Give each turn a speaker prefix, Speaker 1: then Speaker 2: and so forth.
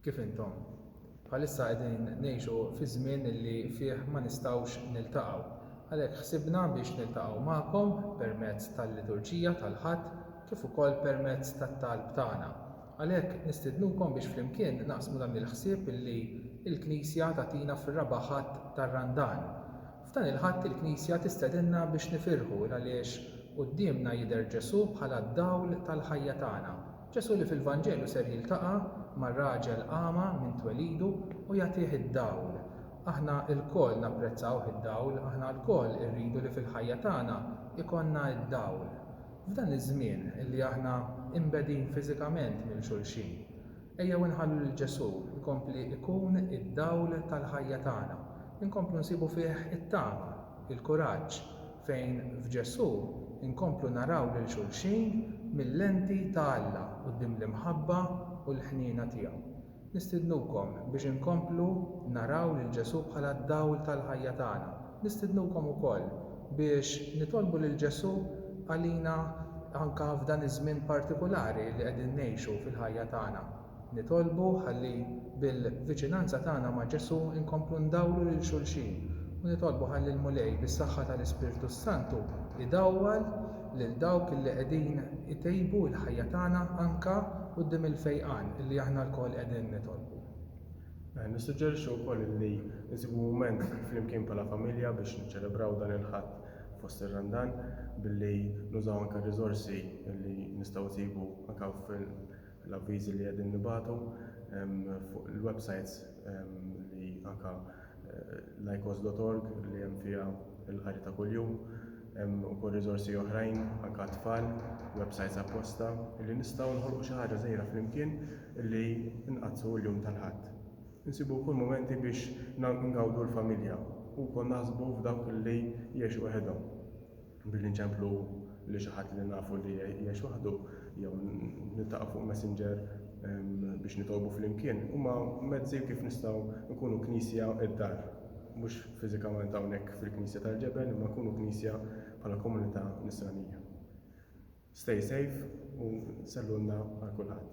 Speaker 1: Kif intom? Bħalissa qegħdin ngħixu fi żmien li fih ma nistgħux niltaqgħu. Għalhekk ħsibna biex niltaqgħu magħkom permezz tal-liturġija tal-Ħadd kif ukoll permezz tat-talb tagħna. Għalhekk nistidnukom biex flimkien naqsmu dan il-ħsieb li l-Knisja tagħtina fir-raba' Ħadd tar-Randan. F'dan il-Ħadd il-Knisja tistedinna biex nifirħu l għaliex quddiemna jidher Ġesù bħala d-dawl tal-ħajja tagħna. Ġesù li fil-Vanġelu ser jiltaqa' ma' raġel agħma minn twelidu u jagħtih id-dawl. Aħna lkoll napprezzawh id-dawl, aħna lkoll irridu li fil-ħajja tagħna jkollna d-dawl. F'dan iż-żmien li aħna imbegħdin fiżikament minn xulxin, ejjew inħallu lil Ġesù jkompli jkun id-dawl tal-ħajja tagħna, inkomplu nsibu fih it-tama. il-kuraġġ fejn f'Ġesù nkomplu naraw lil xulxin mil-lenti ta' Alla quddiem l-imħabba u l-ħniena tiegħu. Nistidnukom biex inkomplu naraw lil Ġesù bħala d-dawl tal-ħajja tagħna. Nistidnukom ukoll biex nitolbu lil Ġesù għalina anke f'dan iż-żmien partikulari li qegħdin ngħixu fil-ħajja tagħna. Nitolbu ħalli bil-viċinanza tagħna ma' Ġesù nkomplu ndawru lil xulxin u nitolbu ħalli l-Mulej bis-saħħa tal-Ispirtu s-Santu jdawwal lil dawk illi qegħdin itejbu il-ħajja tagħna anka quddiem il-fejqan illi aħna lkoll qegħdin nitolbu. Nissuġġerixxi wkoll illi nsibu mument flimkien bħala familja biex niċċelebraw dan il-Ħadd fost ir-Randan billi nużaw anke r-riżorsi illi nistgħu nsibu anke hawn l-avviżi li qegħdin nibagħtu fuq il-websajts li anke l-icos dot org li hemm fiha l-qari ta' kuljum hemm ukoll riżorsi oħrajn anke għat-tfal websajts apposta li nistgħu noħolqu xi ħaġa żgħira flimkien li nqaddsu l-jum tal-ħadd insibu wkoll mumenti biex ngawdu l-familja u wkoll naħsbu f'dawk li jgħixu weħidhom. Billi nċemplu lil xi ħadd li nafu li jgħix waħdu jew niltaqgħu fuq Messenger biex nitolbu flimkien huma mezzi kif nistgħu nkunu Knisja id-dar. Mhux fiżikament hawnhekk fil-Knisja tal-Ġebel imma nkunu Knisja bħala komunità Nisranija. Stay safe u sellunna għal kulħadd.